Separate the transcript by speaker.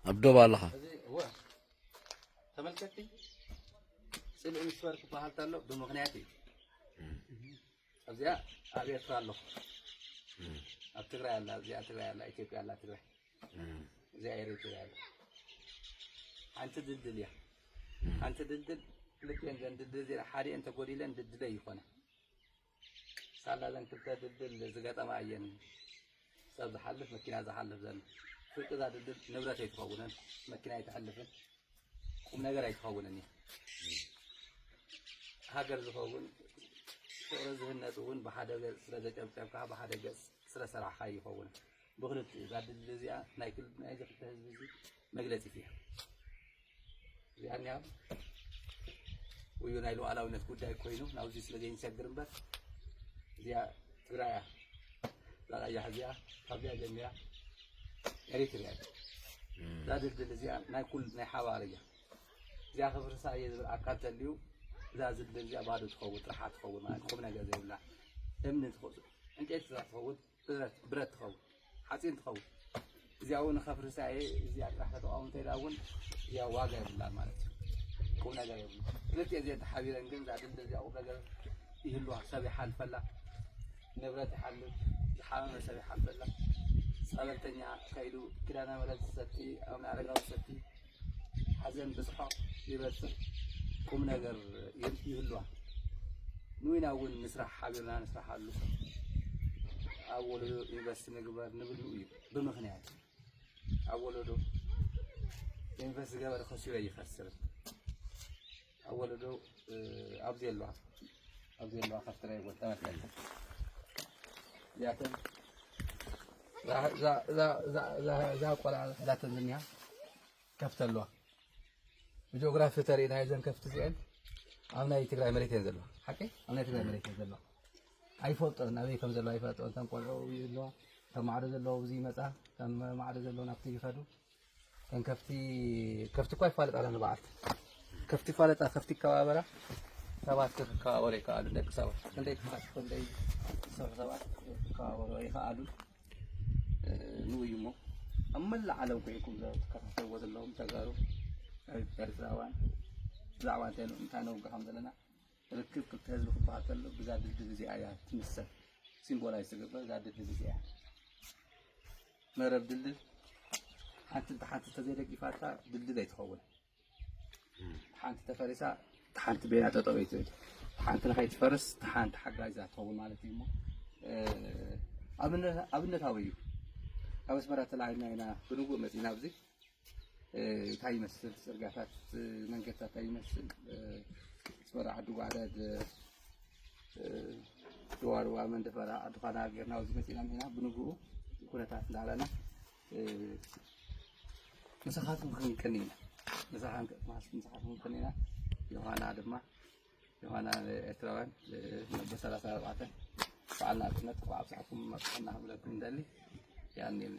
Speaker 1: ኣብ ዶብ ኣለኻ
Speaker 2: ተመልከቲ ፅልኢ ምስበር ክበሃል ተሎ ብምክንያት እዩ ኣብዚኣ ኣብ ኤርትራ ኣለኹ ኣብ ትግራይ ኣላ እዚኣ ትግራይ ኣላ ኢትዮጵያ ኣላ ትግራይ እዚኣ ኤሪትሪያ ኣላ ሓንቲ ድልድል እያ ሓንቲ ድልድል ክልቲኤን ዘን ድልድል እዚኣ ሓዲኤን ተጎዲለን ድልድለይ ይኾና ሳላ እዘን ክልተ ድልድል ዝገጠማ እየን ሰብ ዝሓልፍ መኪና ዝሓልፍ ዘሎ ፍርቂ እዛ ድልድል ንብረት ኣይትኸውንን መኪና ኣይትሕልፍን ቁም ነገር ኣይትኸውንን እዩ ሃገር ዝኸውን ፍቕሪ ዝህነፅ እውን ብሓደ ገፅ ስለ ዘጨብጨብካ ብሓደ ገፅ ስለ ሰራሕካ ይኸውን ብክልቲኡ እዛ ድልድል እዚኣ ናይ ክል ናይ እዚ ክልተ ህዝቢ እዚ መግለፂት እያ እዚኣ እኒኣ ውዩ ናይ ሉዓላዊነት ጉዳይ ኮይኑ ናብዚ ስለ ዘይንሰግር እምበር እዚኣ ትግራይ እያ እዛ ቀያሕ እዚኣ ካብዚኣ ጀሚራ ኤሪትሪያ እያ እዛ ድልድል እዚኣ ናይ ኩል ናይ ሓባር እያ እዚኣ ክፍርሳ እየ ዝብል ኣካል ተልዩ እዛ ዝድልድል እዚኣ ባዶ ትኸውን ጥራሓ ትኸውን ማለት ቁም ነገር ዘይብላ እምኒ ትኸ ዕንጨይቲ ትኸውን ብረት ብረት ትኸውን ሓፂን ትኸውን እዚኣ እውን ከፍርሳ እየ እዚኣ ጥራሕ ከተቋውም እንተኢላ እውን እዚኣ ዋጋ የብላን ማለት እዩ ቁም ነገር የብሉ ክልቲኤ እዚአን ተሓቢረን ግን እዛ ድልድል እዚኣ ቁም ነገር ይህልዋ ሰብ ይሓልፈላ ንብረት ይሓልፍ ዝሓመመ ሰብ ይሓልፈላ ፀበልተኛ ከይዱ ኪዳነ ምሕረት ዝሰቲ ኣቡነ ኣረጋዊ ዝሰቲ ሓዘን ብስሖቕ ይበጽሕ ቁም ነገር ይህልዋ ንዊና እውን ንስራሕ ሓቢርና ንስራሓሉ ኣብ ወለዶ ኢንቨስት ንግበር ንብሉ እዩ ብምክንያት ኣብ ወለዶ ኢንቨስት ዝገበር ከሲሮ ይኸስር ኣብ ወለዶ ኣብዚ ኣለዋ ኣብዚ ኣለዋ ካብ ትራይ ወጣት ኣለ እዚኣተን እዛ ቆልዓ ሕዳተን ዝኒሃ ከፍቲ ኣለዋ ብጂኦግራፊ ተሪእና እዘን ከፍቲ እዚአን ኣብ ናይ ትግራይ መሬት እየን ዘለዋ ሓቂ ኣብ ናይ ትግራይ መሬት እየን ዘለዋ ኣይፈልጦን ኣበይ ከም ዘለዋ ኣይፈልጦን ተን ቆልዑ ኣለዋ ከም ማዕዶ ዘለዉ እዚ ይመፃ ከም ማዕዶ ዘለዉ ናብቲ ይኸዱ እተን ከፍቲ ከፍቲ እኳ ይፋለጣላ ንበዓልቲ ከፍቲ ይፋለጣ ከፍቲ ይከባበራ ሰባት ክከባበሩ ይከኣሉ ደቂ ሰባት ክንደይ ክፋት ክንደይ ዝሰርሑ ሰባት ክከባበሩ ይከኣሉ ንውይ እሞ ኣብ መላእ ዓለም ኮይንኩም ዝከታተልዎ ዘለዎም ተጋሩ ኤርትራውያን ብዛዕባ እንታይ እንታይ ነውግሖም ዘለና ርክብ ክልተ ህዝቢ ክበሃል ከሎ ብዛ ድልድል እዚኣ እያ ትምሰል። ሲምቦላይዝ ዝተገብረ እዛ ድልድል እዚኣ እያ። መረብ ድልድል ሓንቲ እታ ሓንቲ ተዘይደጊፋታ ድልድል ኣይትኸውን። ሓንቲ ተፈሪሳ ሓንቲ ቤና ጠጠው ይትብል ሓንቲ ንኸይትፈርስ ሓንቲ ሓጋዛ ትኸውን ማለት እዩ እሞ ኣብነታዊ እዩ። ካብ ኣስመራ ተላዒልና ኢና ብንጉእ መፂና ኣብዚ እንታይ ይመስል ፅርጋታት መንገድታት እንታይ ይመስል ፅበራ ዓዲ ጓዕደድ ድዋርዋ መንደፈራ ዓዲ ኳና ጌርና ኣብዚ መፂና እኒና ብንግኡ ኩነታት እንዳበለና ምሳኻትኩም ክንቅን ኢና ምሳኻን ቅጥማስ ምሳኻትኩም ክንቅን ኢና ዮሃና ድማ ዮሃና ኤርትራውያን ነቦ ሰላሳ ኣርባዕተ በዓል ናፅነት ብዓብሳዕኩም መፅሐና ክብለኩም እንደሊ ያኒልና